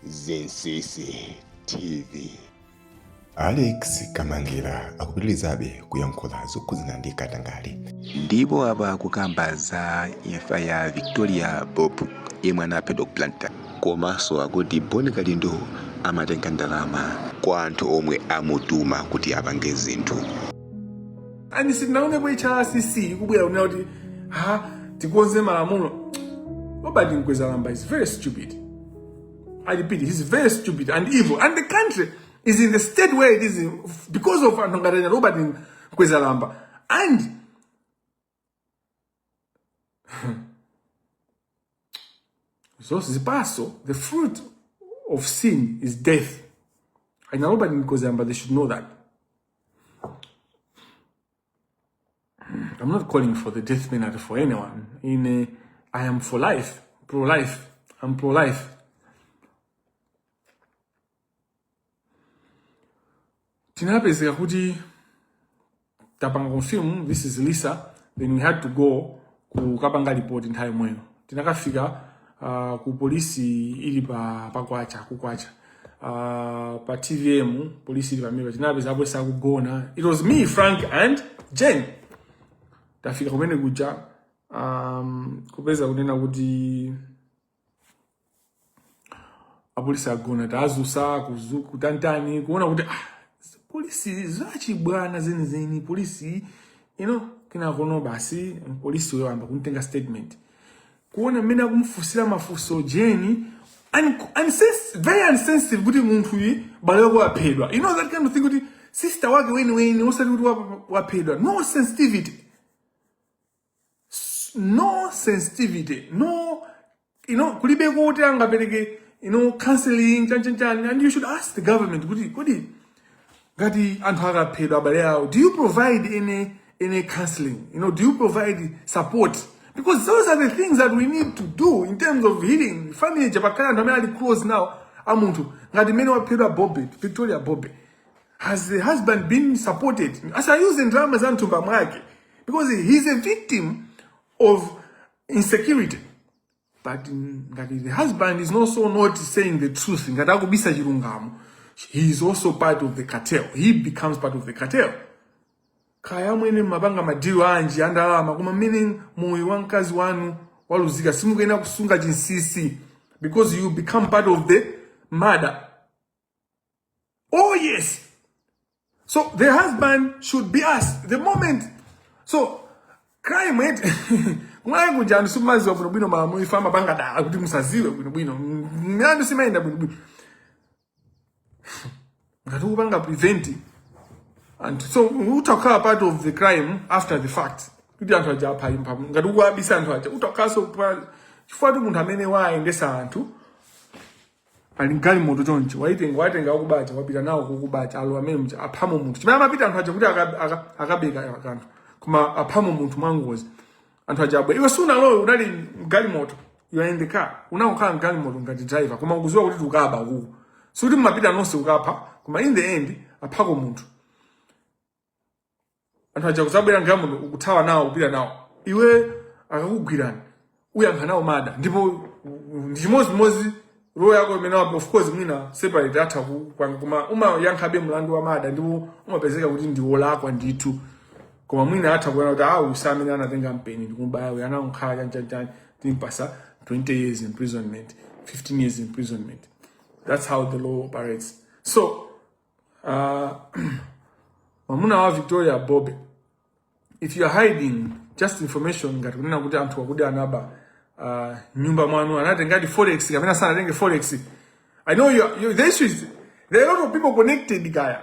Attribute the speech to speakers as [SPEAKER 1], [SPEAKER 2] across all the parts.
[SPEAKER 1] Zinsisi TV. Alex Kamangira akupitirizabe kuyankhula zokhudzana ndi katangale. ndipo apa akukamba za imfa ya victoria bobe yemwe anaphedwa ku blantyre komanso akuti bon kalindo amatenga ndalama kwa anthu omwe amutuma kuti apange zinthu and sitinaonepo hrdc ikubwera kunena kuti ha tikonze malamulo robert mkwezalamba is very stupid i repeat he's very stupid and evil and the country is in the state where it is because of anthu ngati robert mkwezalamba and zonse zipatso the fruit of sin is death ainaloba ndikoziyamba they should know that i'm not calling for the death penalty for anyone in uh, i am for life pro life i'm pro life tinapezeka kuti tapanga confirm this is lisa then we had to go kukapanga report nthawi yomweyo tinakafika uh, ku polisi ili pa pakwacha kukwacha uh, pa tvm polisi ili pamene tinapeza apolisi akugona it was me frank and jen tafika kumene kuja um, kupeza kunena kuti apolisi agona tazusa kutantani kuona kuti ah, polisi zachibwana zenizeni polisi you know kinakono basi polisi uyo wayamba kuntenga statement kuona mmene akumfunsira mafunso jeni very insensitive kuti munthu uyi m'bale wake waphedwa you know that kind of thing kuti sister wake weniweni osati kuti waphedwa no sensitivity no sensitivity no you know kulibe kuti angapereke you know counseling chanchanchani and you should ask the government kuti kodi ngati anthu akaphedwa abale awo do you provide any any counseling you know do you provide support because those are the things that we need to do in terms of healing family chapakhala anthu amene ali close now munthu ngati mmene waphedwa bobe victoria bobe has the husband been supported asayuza ndalama za mthumba mwake because he is a victim of insecurity but ngati the husband is also not saying the truth ngati akubisa chilungamo he is also part of the cartel he becomes part of the cartel kaya mmene mumapanga madhiro anji andalama koma ngati moyo wa mkazi wanu waluzika simukuyenera kusunga chinsisi because you become part of the murder Oh, yes. So the husband should be asked the moment. So crime rate kuti anthu simudziwa bwinobwino malamulo apa amapanga dala kuti musaziwe bwinobwino mlandu sumayenda bwinobwino ngati ukupanga prevent and so umakhala part of the crime after the fact kuti anthu aja apha impa ngati ukuwabisa anthu aja umakhalanso chifukwa kuti munthu amene waayendesa anthu pali galimoto chonchi waitenga watenga akubawo wapita nawo kokubako alo amene mcha aphamo munthu chimene amapita anthu aja kuti aka- aka- akabeko kanthu koma aphamo munthu mwangozi anthu aja abwera iwe sunalowe unali mgalimoto you are in the car unakhala mgalimoto ngati driver koma ukuziwa kuti tukaba ukuku sikuti mmapita nonse ukapha koma in the end aphako munthu anthu aja kudzabwera mgalimoto kuthawa nawo kupita nawo iwe akakugwirani uyankha nawo mada ndipo uh, ndi chimodzimodzi role yako imene wapo of course mwina separate atha ku- kwa- koma umayankhabe mlandu wa mada ndipo umapezeka kuti ndi wolakwa ndithu koma mwina atha kuona kuti awa si amene anatenga mpeni ndikumubaya uyu anangokhala chanchanchan timpasa 20 years imprisonment 15 years imprisonment that's how the law operates so Uh, mwamuna wa Victoria Bobe, if you are hiding just information ngati kunena kuti anthu akuti anaba uh, mnyumba mwanu anatengati forex kapena sanatenge forex I know you, you, the issue is there are a lot of people connected kaya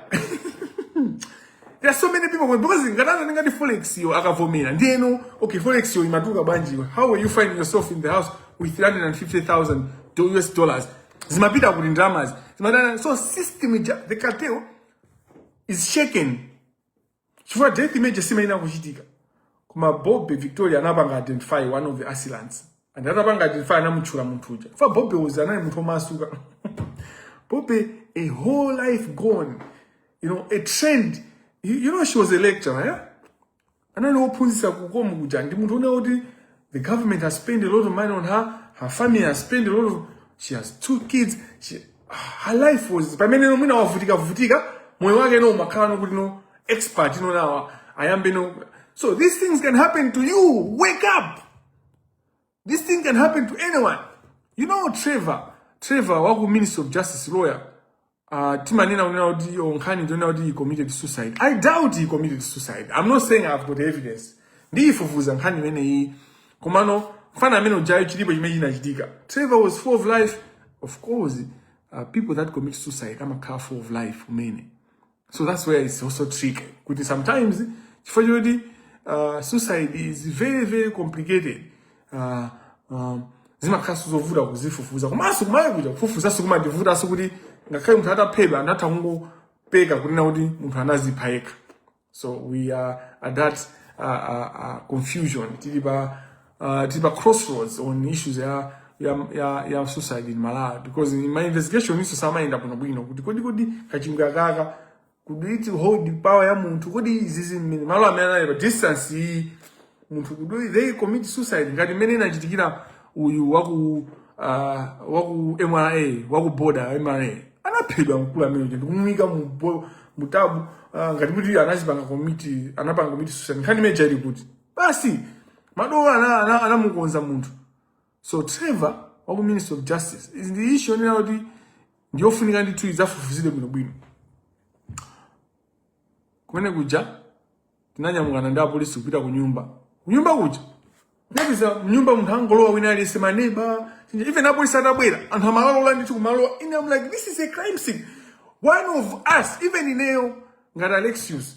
[SPEAKER 1] there are so many people because ngati anatengadi forex yo akavomera ndiyeno okay forex yo imatuluka bwanji how are you finding yourself in the house with 350,000 US dollars zimapita kuti ndalamazi zimatana so system ija the cartel is shaken chifukwa death imene ija simayenera kuchitika koma bobe victoria anapanga identify one of the assailants and atapanga identify anamutchula munthu uja chifukwa bobe uja anali munthu omasuka bobe a whole life gone you know a trend you, you know she was a lecturer yeah? anali wophunzitsa ku COM kuja ndi munthu wonena kuti the government has spent a lot of money on her her family has spent a lot of she has two kids she, her life was pamene no mwina wavutika vutika moyo wake no umakhala no kuti no expert no now ayambe no so these things can happen to you wake up This thing can happen to anyone. You know Trevor, Trevor waku Ministry of Justice lawyer. Uh, timanena kunena kuti nkhani ndi yonena kuti he committed suicide. I doubt he committed suicide. I'm not saying I've got evidence. Ndiyifufuza nkhani imene iyi. Komano mfana amene ujayo chilipo chimene chinachitika. Trevor was full of life. Of course, uh, people that commit suicide amakhala full of life kumene. so that's where it's also tricky kuti sometimes chifukwa choti uh, suicide is very very complicated uh, um, zimakhalanso zovuta kuzifufuza komanso kuMalawi kuno kufufuzaso kumativutanso kuti ngakhale munthu ataphedwa anthu atha kungopeka kunena kuti munthu anazipha yekha so we are at that uh, uh, uh, confusion tili pa uh, tili pa crossroads on issues ya ya ya, ya suicide in Malawi because in my investigation izo sizimayenda bwino bwino kuti kodi kodi kachingwe akaka kodi it hold power ya munthu kodi izizi mmene malo amene anali pa distance iyi munthu kodi they commit suicide ngati mmene inachitikira uyu waku uh, waku MRA waku border MRA anaphedwa mkulu amene uja ndikumuika mu bo- mu tabu uh, ngati kuti anazipanga commit anapanga commit suicide nkhani imeneja ili kuti basi madola ana- ana- anamukonza munthu so trevor wa ku ministry of justice is the issue yonena kuti ndiyofunika ndithu idzafufuzidwe bwinobwino kumene kuja tinanyamukana ndi apolisi kupita ku nyumba kunyumba kuja tinapeza mnyumba munthu angolowa wina aliyense maneba even apolisi atabwera anthu amalola ndithu kumalowa and i'm like this is a crime scene one of us even ineyo ngati alexius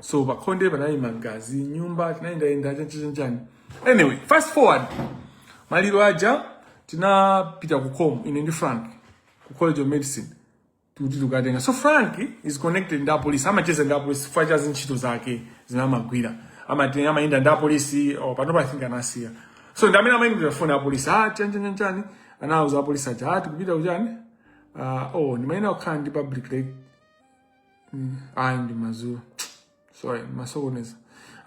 [SPEAKER 1] so pakhonde panali magazi nyumba tinayendayenda chanchanchani anyway fast forward maliro aja tinapita ku com ine ndi frank ku college of medicine kuti tikatenge so frank is connected ndi apolisi amacheza ndi apolisi chifukwa cha ntchito zake zimene amagwira amatenga amayenda ndi apolisi oh, panopa i think anasiya so ndi amene amayimbira foni apolisi ah chanchanchani anawuza apolisi aja ah tikupita kuchani ah oh ndimayenera kukhala ndi public lec- mm, ayi ndi mazulo sorry ndasokoneza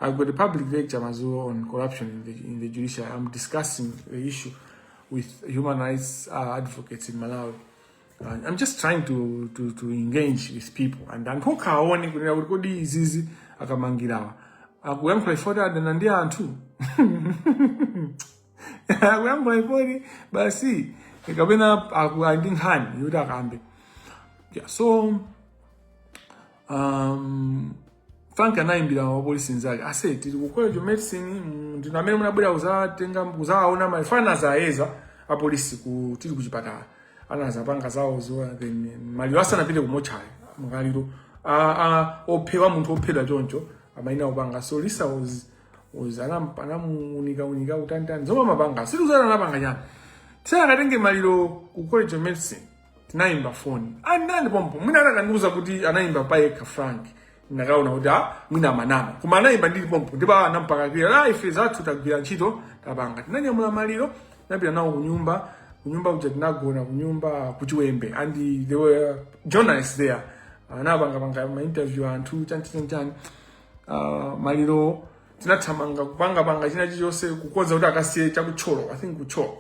[SPEAKER 1] i've got a public lecture mazulo on corruption in the, in the judiciary i'm discussing the issue with human rights uh, advocates in malawi uh, i'm just trying to, to, to engage with people and anthu okha aone kunena kuti kodi izizi akamanga awa akuyankhula chifoti adana ndi anthu akuyankhula pa foni basi kapena ali ndi nkhani yoti akambe yeah, so um, frank anayimbira wapolisi nzake aise tili ku college of medicine mm, ndinu amene munabwera kuzatenga kuzaona maliro anazayeza apolisi ku tili ku chipatala anazapanga zawozo then maliro asanapite ku mochari maliro a- a- ophedwa munthu ophedwa choncho amayenera kupanga so lisa was uzana mpana munika unika utantani zoma mapanga siri uzana napanga chani tena akatenge maliro ku college of medicine tinayimba foni ndili pompo mwina akanandiuza kuti anayimba payekha frank ndikanaona kuti a mwina akunama koma anayimba ndili pompo ndipo awa anampaka kwira la ife zathu tagwira ntchito tapanga tinanyamula maliro tinapita nawo kunyumba kunyumba kuja tinagona kunyumba kuchiwembe and there were journalists there anapangapanga ma interview anthu chanchani chani uh, maliro tinathamanga kupangapanga china chilichonse kukonza kuti akasiye chakutcholo i think kutcholo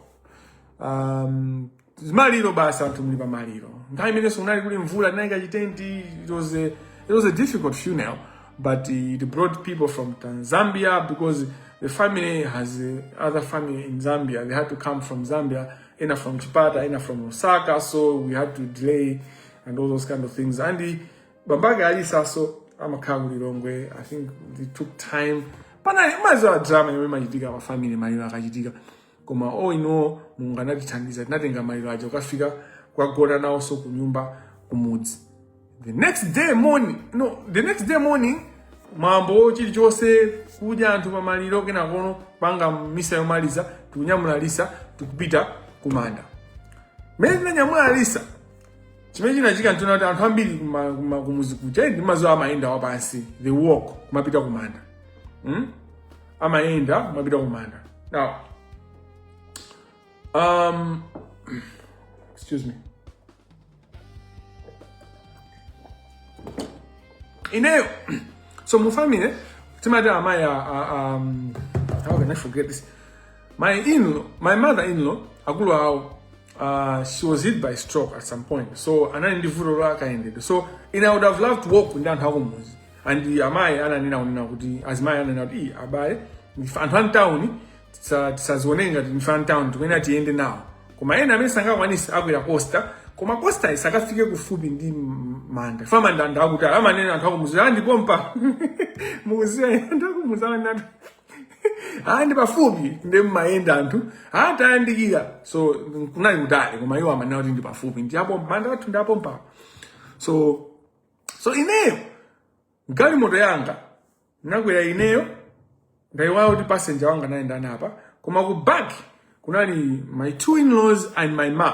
[SPEAKER 1] um, maliro basi anthu muli pa maliro nthawi imenenso kunali kuli mvula tinayika chitenti it was a, it was a difficult funeral but it brought people from Tan- zambia because the family has uh, other family in zambia they had to come from zambia ena from chipata ena from Lusaka so we had to delay and all those kind of things and uh, bambake a Lisanso amakhala ku lilongwe i think they took time panali mumadziwa drama yomwe imachitika pa family maliro akachitika koma all in all mulungu anatithandiza tinatenga maliro aja kukafika kukagona nawonso ku nyumba kumudzi the next day morning no the next day morning mwambo chilichonse kudya anthu pamaliro kenakono panga misa yomaliza tikunyamula Lisa tikupita kumanda mmene tinanyamula Lisa chimene chinachitika nchonena kuti anthu ambiri kuma- kuma- kumuzi kuja mumadziwa amayenda wapansi they walk kumapita kumanda mm? amayenda kumapita kumanda now um, excuse me ineyo so mu family timati amayi a- a- um, how can i forget this my in my mother in law akulu awo Uh, she was hit by stroke at some point so anali ndi vuto la kayendedwe so ine i would have loved to walk ndi anthu akumuzi and amayi ananena unena kuti azimayi ananena kuti "Ii, abale ndife anthu amtawuni tisazione ngati ndife amtawuni tikuyenera tiyende nawo koma ena amene sangakwanisi akwera costa koma costa isakafike kufupi ndi m- manda koma manda anthu akuti amanena anthu akumuzi ndi pompa mukuziwa anthu akumuzi amanena hayi ndi pafupi ndi mmayenda anthu hayi tayandikira so kunali kutali koma iwo amanena kuti ndi pafupi ndi apo manda athu ndi apo mpapo so so ineyo mgalimoto yanga nakwera ineyo ndaiwala kuti passenger wanga anali ndani apa koma ku back kunali my two in laws and my mom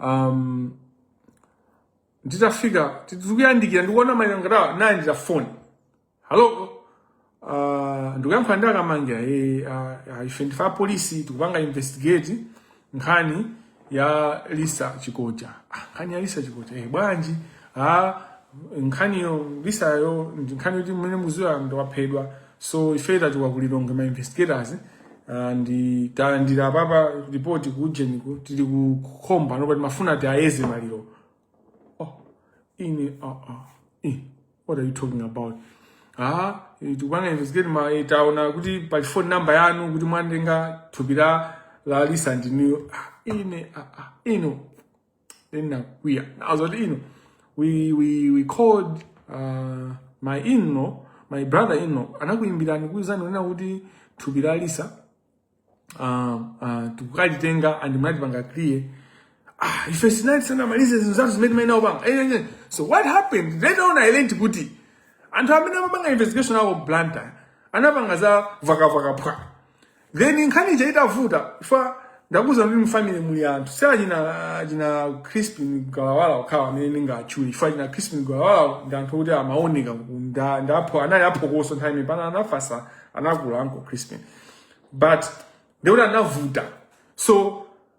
[SPEAKER 1] um, nditafika tikuyandikira ndikuona mayi anga ndalandira foni halo uh, ndikuyankhula ndi a Kamangira e, uh, ife ndife apolisi tikupanga investigate nkhani ya Lisa Chikoja ah, nkhani ya Lisa Chikoja e, bwanji ah, nkhani ya Lisayo ndi nkhani yoti mmene mudziwa ndi wophedwa so ife tatumidwa ku Lilongwe ma investigators ah, nde talandira apapa report ku ujeni ku- tili ku Mkhoma nde apa timafuna tiyeze maliro oh ine ah ah eh, what are you talking about ah eh, tikupanga investigate ma eh, taona kuti pali phone number yanu kuti mwatenga thupi la la Lisa ndinuyo ah ine ah ah ino ndinakwiya kuzati no we, we, we called uh, my inlaw my brother in law anakuyimbirani kuwuzani kunena kuti thupi la lisa uh, uh, tikukalitenga and simunatipanga clear ah, ife tinali tisanamalize zinthu zathu zimene timayenera kupanga Eh, eh, eh. so what happened later on i learned kuti anthu amene amapanga investigation aku blantyre anapanga za vakavaka phwa Then nkhani ija itavuta chifukwa ndakuza kuti mfamily muli anthu si achina achina Crispin Galawala okhawo amene ndingatchule chifukwa achina Crispin Galawala ndi anthu oti amaoneka kunda ndapho anali aphokoso nthawi imene pano anafatsa anakula anko Crispin but ndiye kuti anavuta so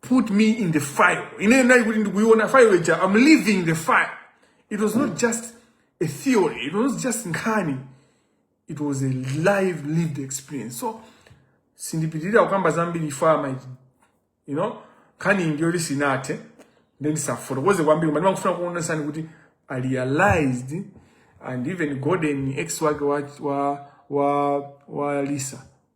[SPEAKER 1] put me in the fire ine ndinali kuti ndikuiona fire ija i'm living the fire it was not just a theory it was not just nkhani it was a life lived experience so sindipitiriza kukamba zambiri from that you know nkhani ndi yoti sinathe nde ndisafotokoze kwambiri koma ndimangofuna kuonesani kuti i realized and even gordon ex wake wa, wa, wa, wa lisa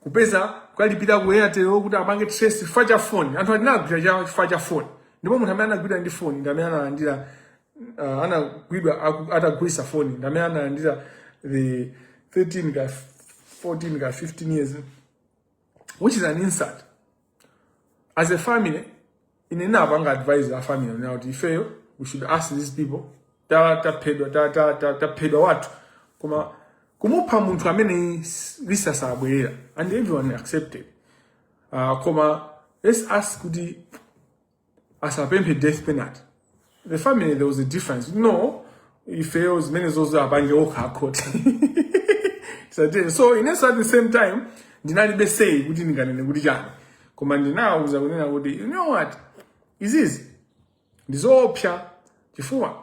[SPEAKER 1] kupeza kukalipira ku airtel kuti apange trace chifukwa cha phone anthu aja anagwidwa cha chifukwa cha phone ndipo munthu amene anagwidwa ndi phone ndi amene analandira uh, anagwidwa aku- atagulisa phone ndi amene analandira the 13 ka 14 ka 15 years which is an insult as a family ine ndinapanga advise a family kunena kuti ifeyo we should ask these people ta taphedwa ta ta ta taphedwa wathu koma kumupha munthu amene s- lisa sabwerera and everyone accepted uh, koma let's ask kuti asapemphe death penalty the family there was a difference kuti no ifeyo zimene izo apange okha akhoti Sati- so inenso at the same time ndinalibe say kuti ndinganene kuti chani koma ndinawuza kunena kuti you know what izizi ndi zoopsa chifukwa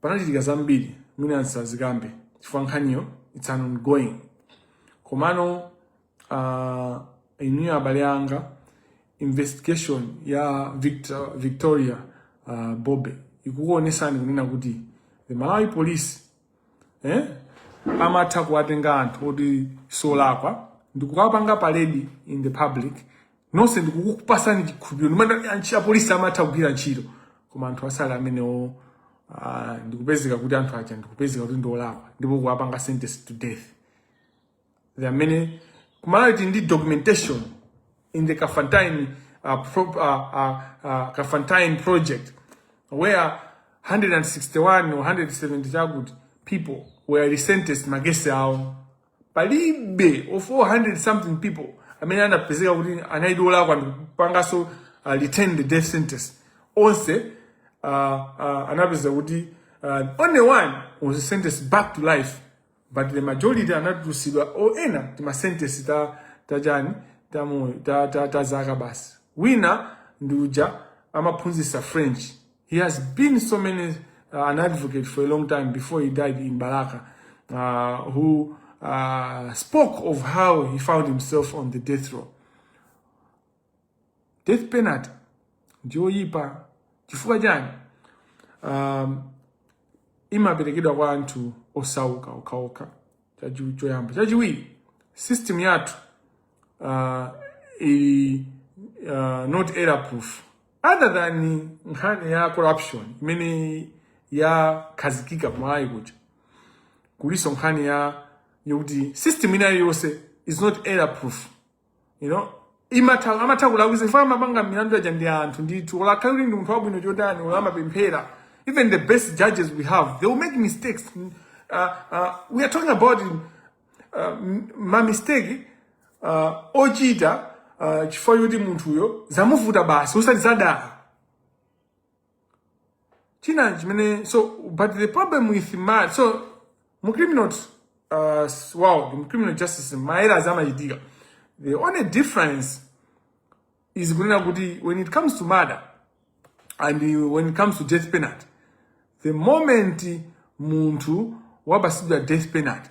[SPEAKER 1] panachitika zambiri zimene ndisazikambe chifukwa nkhaniyo it's an ongoing komano uh, inuyo abale anga investigation ya Victor- victoria uh, bobe ikukuonesani kunena kuti the malawi police eh? amatha kuwatenga anthu oti osalakwa n'kukapanga parade in the public nonse n'kukupatsani chikhulupiriro n'kumati antchi- apolisi amatha kugwira ntchito koma anthu asali amenewo ah, ndikupezeka kuti anthu aja ndikupezeka kuti ndi olakwa ndipo kuwapanga sentence to death the amene kuMalawi tili ndi documentation in the Kafantayeni uh, pro, uh, uh, uh, Kafantayeni project where 161 or 170 chakuti people were resentenced makesi awo palibe of the 400 something people amene anapezeka kuti anali olakwa ndikupanganso uh, retain the death sentence onse uh, uh, anapeza kuti uh, only one was sentenced back to life but the majority anatulusidwa o ena timasentesi ta tachani tamoyo ta, ta, ta zaka basi wina ndi uja amaphunzitsa french he has been so many uh, an advocate for a long time before he died in balaka uh, who uh, spoke of how he found himself on the death row death penalty ndiyoyipa chifukwa chani um, imaperekedwa kwa anthu osauka okhaokha choyamba chachiwiri system yathu uh, ili uh, not error proof rather than nkhani ya corruption imene yakhazikika kuMalawi kuja kulinso nkhani ya yokuti system ina iliyonse is not error proof you know imatha amatha kulakwitsa chifukwa amapanga milandu ija ndi anthu ndithu olo akhale kuti ndi munthu wabwino chotani olo amapemphera even the best judges we have they will make mistakes uh, uh, we are talking about uh, ma mistake uh, ochita uh, chifukwa choti munthuyo zamuvuta basi osati zadala china chimene so but the problem with ma so mu criminal uh, s- world mu criminal justice mayeras amachitika the only difference is kunena kuti when it comes to murder and uh, when it comes to death penalty the moment munthu wapasidwa death penalty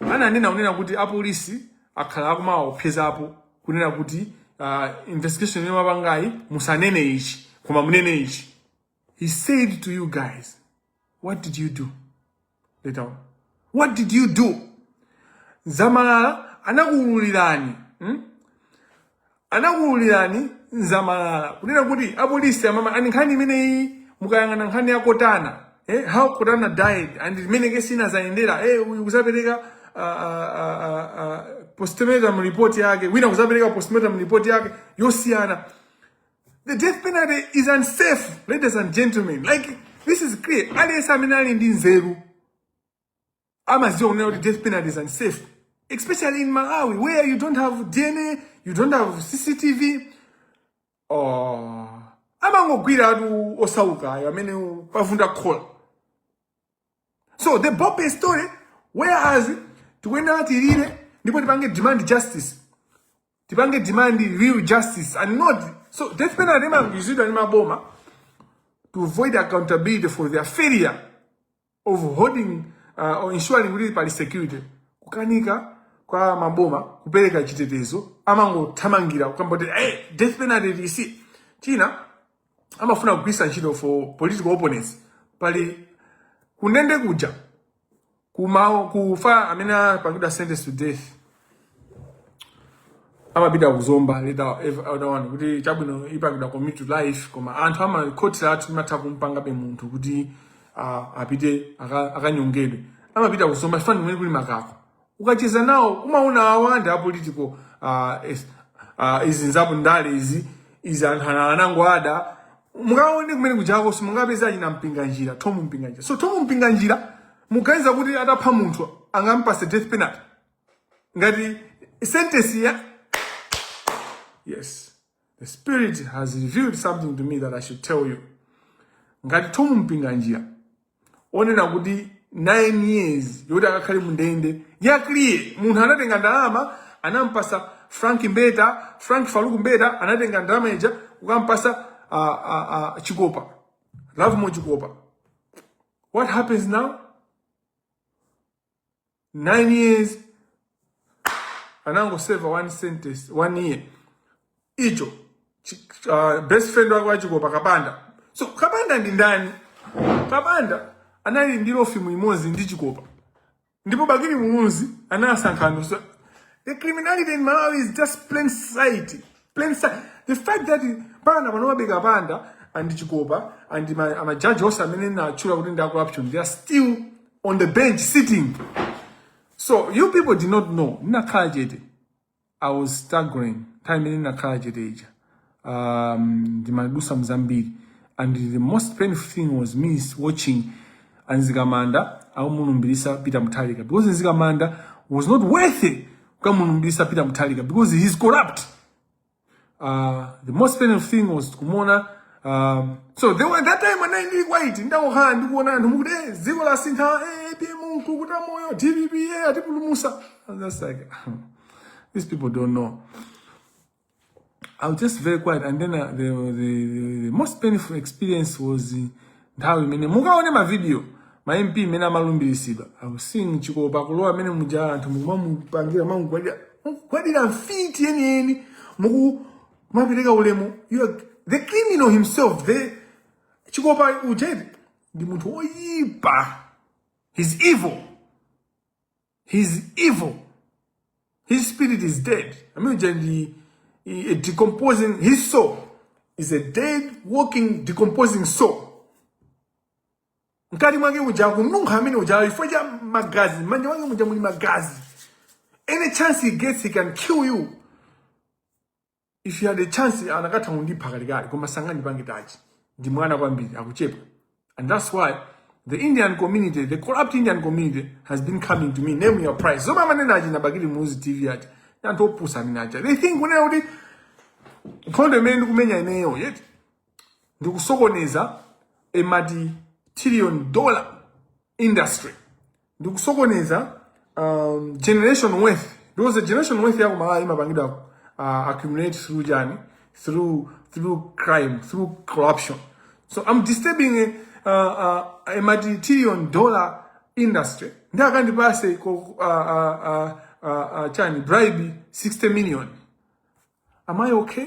[SPEAKER 1] ananena kunena kuti apolisi akhala akumawaopsezapo kunena kuti uh, investigation imene mwapangayi musanene ichi koma munene ichi he said to you guys what did you do later on what did you do Zamalala anakuululirani hmm? anakuululirani Zamalala kunena kuti apolisi amama and nkhani imeneyi mukayang'ana nkhani ya Kottana eh, how Kottana died and mmene kesi inazayendera eh, uyu kuzapereka uh, uh, uh, postmortem report yake wina kuzapereka postmortem report yake yosiyana the death penalty is unsafe ladies and gentlemen like this is clear aliyense amene ali ndi nzeru amadziwa kunena kuti death penalty is unsafe especially in Malawi where you don't have dna you don't have cctv oh. amangogwira anthu osaukawo amene pavunda khola so the bope story whereas tikuyenera tilire ndipo tipange demand justice tipange demand real justice and not so death penalty imagwiritsidwa ndi maboma to avoid accountability for their failure of holding uh, or ensuring kuti pali security kukanika kwa maboma kupereka chitetezo amangothamangira kukamba kuti hey, death penalty tisi china amafuna kugwiritsa ntchito for political opponents pali kundende kuja kumawo kufa amene apangidwa sentence to death amapita ku Zomba leta elder one kuti chabwino ipangidwa commute to life koma anthu a makhoti athu imatha kumupangabe munthu kuti ah, apite aka- akanyongedwe amapita ku Zomba chifani kumene kuli makako ukacheza nawo umaona awa ndi apolitical ah, es- ah, izi nzapo ndale izi izi anthu ana- anangoada mukaone kumene kujako simungapeze achina Mpinganjira Thom Mpinganjira so Thom Mpinganjira muganiza kuti atapha munthu angampase death penalty ngati sentence ya yes the spirit has revealed something to me that i should tell you ngati Thom Mpinganjira ponena kuti 9 years yoti akakhale mundende ya kuliye munthu anatenga ndalama anampasa Frank Mbeta Frank Farouk Mbeta anatenga ndalama ija kukampasa uh, uh, uh, Chikopa Lovemore Chikopa what happens now 9 years anangoseva one sentence one year icho chi- ah, best friend wake wa Chikopa Kapanda so Kapanda ndi ndani Kapanda anali ndi law firm imodzi ndi Chikopa ndipo Bakili Muluzi anasankha anthu so the criminality in Malawi is just plain sight plain sa- the fact that panopano a Kapanda and Chikopa and ma- ama judge onse amene ndatchula kuti ndi a corruption they are still on the bench sitting so you people did not know ndinakhala chete i was staggering time imene ndinakhala chete ija um, ndimadusa mzambiri and the most painful thing was me watching a Mzikamanda akumulumbiritsa Peter Mutharika because Mzikamanda was not worthy kukamulumbiritsa Peter Mutharika because he is corrupt uh, the most painful thing was kumuona um, so there were that time I ndinali quiet ndangokhala ndikuona anthu mukuti eh, dziko lasintha eh, APM mkukuta moyo DPP eh, atipulumusa I was just like these people don't know I was just very quiet and then uh, the, the, the, the most painful experience was uh, nthawi imene mukaone mavidiyo ma MP imene amalumbiritsidwa I was seeing Chikopa kulowa mmene muja anthu mukumamupangira mamugwadira mugwadira mfiti yeniyeni mukumapereka ulemu to the criminal himself the Chikopa uja ndi munthu woyipa he's evil He's evil. His spirit is dead. I mean, the, the decomposing, his soul is a dead, walking, decomposing soul. mkati mwake uja akununkha amene uja chifukwa cha magazi mmanja mwake muja muli magazi any chance he gets he can kill you if he had a chance akanatha kundipha kalekale koma sangandipange touch ndi mwana kwambiri akuchepa and that's why the indian community the corrupt indian community has been coming to me name your price zomwe amanena achina Bakili Muluzi TV ati anthu opusa amene acha they think kunena kuti nkhondo imene ndikumenya ineyo yoti ndikusokoneza a multi trillion dollar industry ndikusokoneza um, generation wealth because the generation wealth yako malawi imapangidwa uh, accumulate through chani through through crime through corruption so i'm disturbing a, uh, uh, a multi-trillion dollar industry ndi akandipase ko- uh, uh, uh, uh, uh, chani bribe 60 million am i okay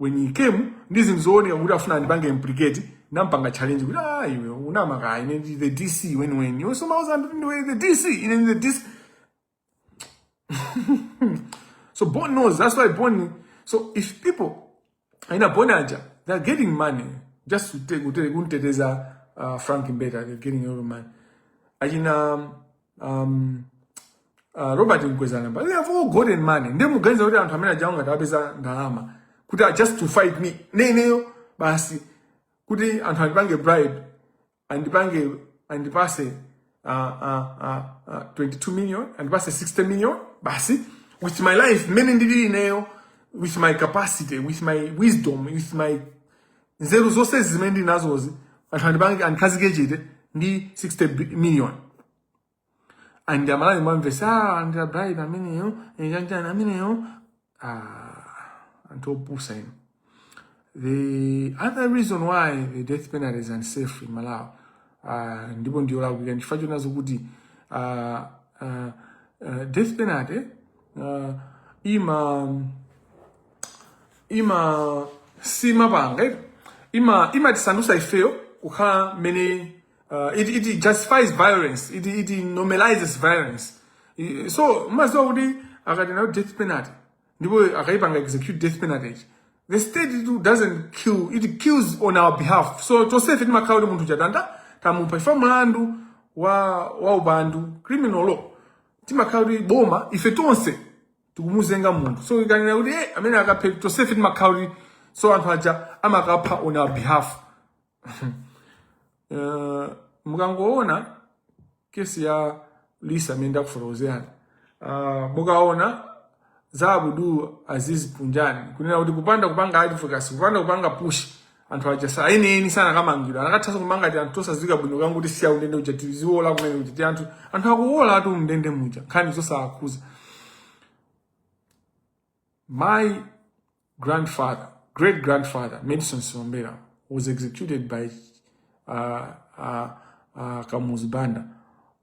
[SPEAKER 1] when he came ndi zinthu zooneka kuti akufuna andipange implicate nampanga challenge kuti ah iwe unamaka ine ndi the DC weniweni iwe ukumauza anthu kuti ndiwe the DC ine ndi the DC so Bon knows. That's why Bon. So if people in a Bonaja, they're getting money just to take kunteteza uh, Frank Mbeta. They're getting a lot of money. Ajina um, uh, robert mkwezana but they have all golden money ndiye muganiza kuti anthu amene ajawo ngati atapeza ndalama kuti just to fight me ineyo basi kuti anthu andipange bribe andipange andipatse uh, uh, uh, uh, 22 million andipatse 60 million basi with my life mmene ndilili ineyo with my capacity with my wisdom with my nzeru zonse zimene ndili nazozi anthu andipange andikhazike chete ndi 60 bi- million and amalawi mwamvetsa ah, walandira bribe ameneyo eh, chanichani ameneyo ah, anthu opusa now the other reason why the death penalty is unsafe in malawi uh, ndipo ndiyolakwika ndichifukwa chonenanso kuti uh, uh, uh, death penalty uh, ima ima siimapanga eh? ima imatisandusa ifeyo kukhala mmene uh, it, it justifies violence it, it normalizes violence I- so mumadziwa kuti ukakhala nayo death penalty ndipo akaipanga execute death penalty it's the state it doesn't kill it kills on our behalf so tonsefe timakhala kuti munthu uja ta- tamupha chifukwa mlandu wa wa upandu criminal law timakhala kuti boma ife tonse tikumuzenga munthu so ikanena kuti eh, amene akaphe tonsefe timakhala kuti so anthu aja amakapha on our behalf Eh, mukangoona case ya Lisa amene ndakufotokozerani uh, mukaona za Abdul Aziz Panjwani kunena kuti kupanda kupanga advocacy kupanda kupanga push anthu aja eni eni sanakamangidwa anakatha kumanga timuanthu tosadziwika bwino kangu kuti tisiya mundende muja tiziwola kumene kuja tianthu anthu akuwolatu mundende muja nkhani zosawakhudza my grandfather great grandfather Medson Silombera was executed by uh, uh, uh, Kamuzu Banda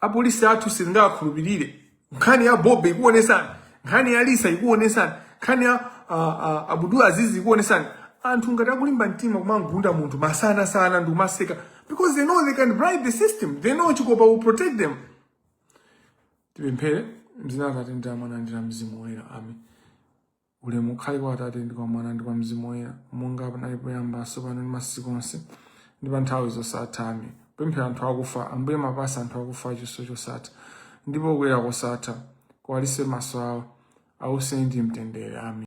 [SPEAKER 1] apolisi athu sitingawakhulupirire nkhani ya Bobe ikuonesani nkhani ya Lisa ikuonesani nkhani ya ah, ah, Abdul Aziz ikuonesani anthu ngati akulimba mtima kumamugunda munthu masanasana ndi kumaseka because they know they can bribe the system they know chikopa will protect them tipemphere m'dzina la atate ndi la mwana ndi la mzimu woyera amen ulemu ukhale kwa atate ndi kwa mwana ndi kwa mzimu woyera monga panali poyamba tsopano ndi masiku onse ndi pa nthawi zosatha amen tipempherere anthu akufa ambuye muwapatse anthu akufa chiwuso chosatha ndipo kuyera kosatha kuwalize maso awo awuse ndi mtendere amen